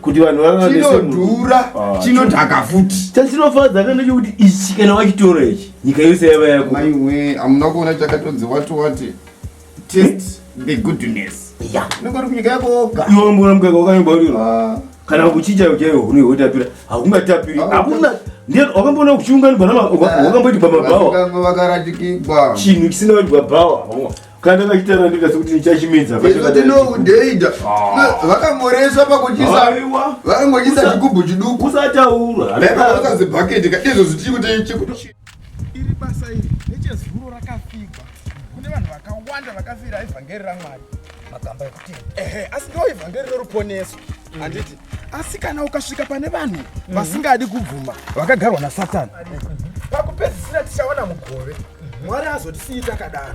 kuti vanhu vavainodhura ah, chinodhaka futi chatinofadza kana chekuti ichi kana wachitora ichi nyika yose yava yako aiwe hamuna kuona chakatonzi wati wati test the goodness nokuri kunyika yako woga iwe mbona mukaka wakanyobaurira ah. kana kuchinja uchaiwo hune hotapira hakungatapiri ah, hakuna wakamboona kuchiunganigwa wakamboitwa mabhawa chinhu chisina waitwa bhawa kana vachitara ndikasi kuti ndichachimedza ndinoudheida ah. vakamboreswa pakuchisa vakangochisa chigubhu chiduku usataura vakazibhaketi ka izvo zichikuti iri basa iri nechezuro rakafigwa kune vanhu vakawanda vakafira evhangeri ramwari magamba ekutenda ehe asi ndo evhangeri reruponeso handiti mm. asi kana ukasvika pane vanhu mhm. vasingadi kubvuma vakagarwa nasatani pakupedzisira tichawana mugove mwari azotisiyi takadaro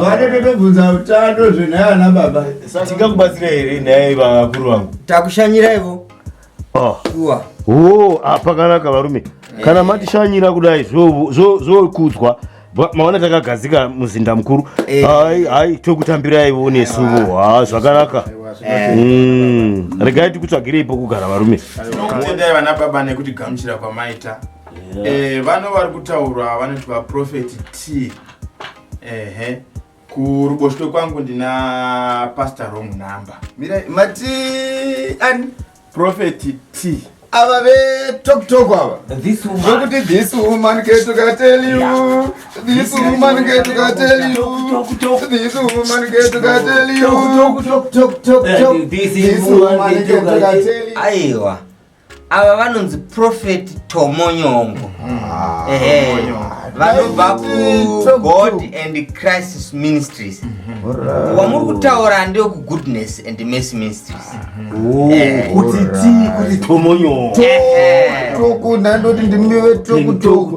vanotobvunza utano zvenhaya ana baba tingakubatsira here nhaya ivavakuru vangu takushanyiraivo ah. shuwa oh, ah, pakanaka varume kana matishanyira kudai zvokudzwa maona takagadzika muzinda mukuru eh. hai hai tokutambiraivo nesuvo ha ah, zvakanaka Eh. Mm. regai tikutsvagirei pokugara varume tinokutendai vana baba nekuti gamuchira kwamaita Eh, vano vari kutaurwa vanoti vaprofeti t ehe kuruboshwe kwangu ndina pastor wrong number mira mati ani profeti t ava vetoktok ava zvokuti this woman ketukateliu this woman ketukateliu this woman ketukateliu aiwa ava vanonzi profeti tomonyongo ah, ehe vanobva kugod and crisis ministries mhm. wamuri kutaura ndeweku goodness and mercy ministries oh, eh. kuti tii kuti tomonyongo toku ndandoti ndimive toku toku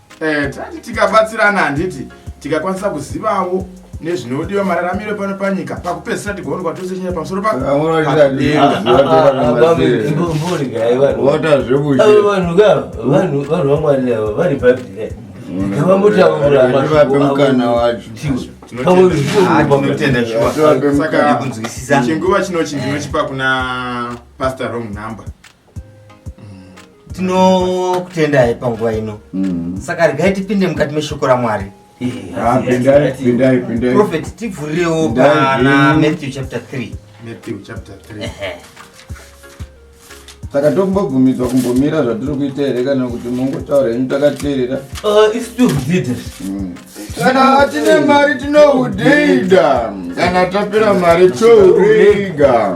Eh, tati tikabatsirana handiti tikakwanisa kuzivawo nezvinodiwa mararamiro pano panyika pakupedzisira tigoonekwa tose chinyaya pamusoro pakuota zvekuvanhu vamwari ava vari bhabhira ngavambotauraavape mukana wacho chinguva chinochi ndinochipa kuna pastor wrong number tinokutendai panguva ino mm-hmm. saka regai tipinde mukati meshoko ramwari ah, profet tivhurirewo pana matthew chapter 3 matthew chapter 3 saka tombobvumidzwa kumbomira zvatiri kuita here kana kuti mongotaura henyu takateerera uh, kana tine mari tinohudeida kana tapera mari tohureiga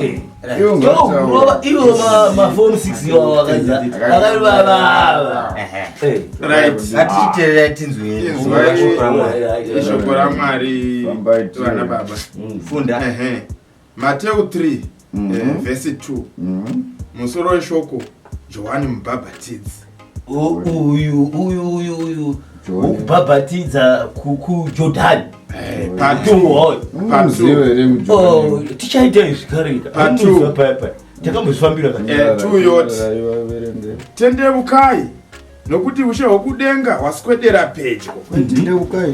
ishoko ramwari vana baba funda Mateu 3 mm -hmm. eh, vhesi 2 mm -hmm. musoro weshoko johani mubhabhatidzi uyu uyu uyu uyu wokubhabhatidza kujodhani eh, mm, oh, tichaita izvi kareka amuza paya paya takambozvifambira katuyoti eh, tendeukai nokuti ushe hwokudenga hwaswedera pedyo tendeukai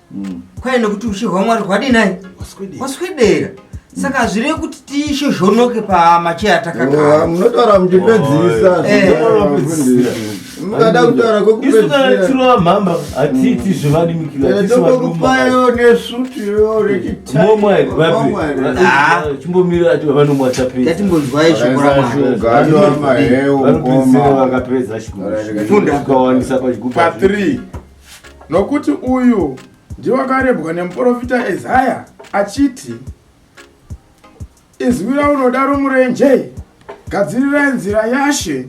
mm. kwaye nekuti ushe hwamwari hwadii nai waswedera saka hazvirei kuti tiishozhonoke pamacheya takagara munotaura muchipedzisa eh. mukada kutaura kwekupedzisira mhamba hatiiti zvevadimikiratokupaiwo nesutiyo rechitimbomira ati vanomwatapeaatimbonzwai shokuraakapedza shikukawandisa pachigupathree Nokuti uyu ndiwo akarebwa nemuporofita Ezaya achiti, Izwi raunoda romurenje, gadzirirai nzira yaShe,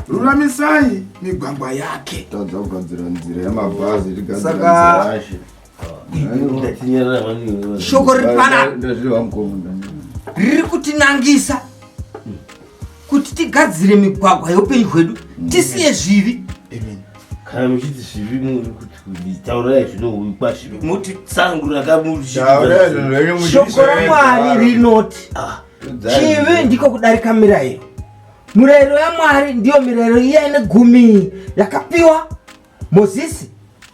ruramisai migwagwa yake. Tadza kugadzira nzira yamabhazi, tigadzira Saka- nzira yaShe. shoko riri panapa riri kutinangisa kuti tigadzire migwagwa yeupenyu hwedu tisiye zvivi kana muchiti zvivi muri kuti kunditaurai zvinohwikwa zvivi muti tsangu rakamushoko ramwari rinoti ah, chivi ndiko kudarika mirayiro murayiro yamwari ndiyo mirayiro iya ine gumi yakapiwa mozisi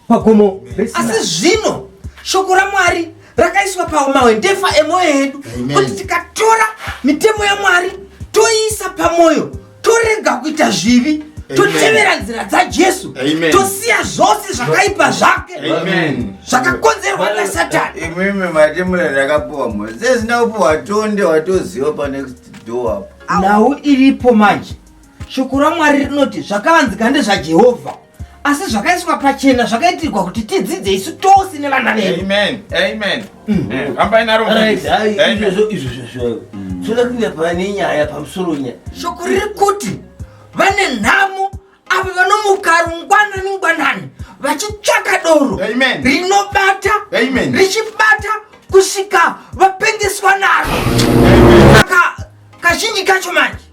pagomo asi zvino shoko ramwari rakaiswa pamawe ndefa emwoyo yedu kuti tikatora mitemo yamwari toiisa pamwoyo torega kuita zvivi totevera nzira dzajesu tosiya zvose zvakaipa zvake zvakakonzerwa nasatani imimi matemo rakapuwa mozisi naupo watonde watoziva panext door apo nhau iripo manje Shoko raMwari rinoti zvakavanzika ndezvaJehovha, asi zvakaiswa pachena zvakaitirwa kuti tidzidze isu tose nevana vedu. Amen. Amen. Mm. Eh, Hambai naro. Right, hayi, Amen. izvozvo izvozvo zvayo toda kuuya pane nyaya pamusoro nyaya Shoko riri kuti vane nhamo avo vanomuka rungwanani ngwanani vachitsvaka doro Amen. rinobata Amen. richibata kusvika vapengeswa naro. Saka kazhinji kacho manje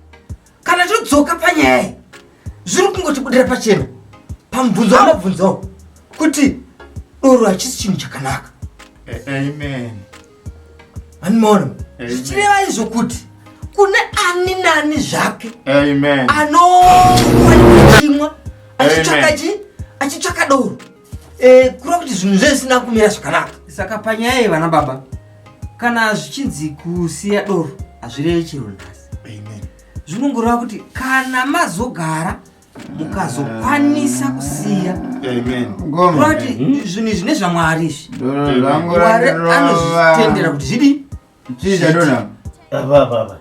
kana todzoka panyaya iyi zviri kungotibudira pachena pamubvunzo wamabvunzawo kuti doro hachisi chinhu chakanaka amen animono zvichireva izvo kuti kune ani nani zvake amen anofanira kuchimwa achitsvaka chi achitsvaka doro Eh, kura kuti zvinhu zve zvisina kumira zvakanaka saka panyaya yevana baba kana zvichinzi kusiya doro hazvireve chero nhasi zvinongoreva kuti kana mazogara mukazokwanisa kusiya kura kuti zvinhu izvi nezvamwari izvi mwari anozvitendera kuti zvidi Chii chadona apa? Apa apa apa.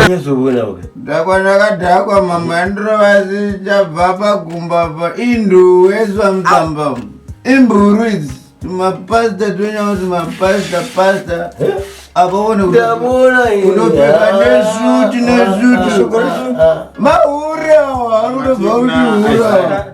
Nyazoona uka. Dhakwa ndakadhakwa mambo yandirova zichabva pagumba apa induwe zvamutamba umu. Imburu idzi tumapasita twenyawo tumapasita pasita. Akaone kuti Ndabona ini. unopfeka nesuti nesuti. Mahure awa anotobva kuti hura.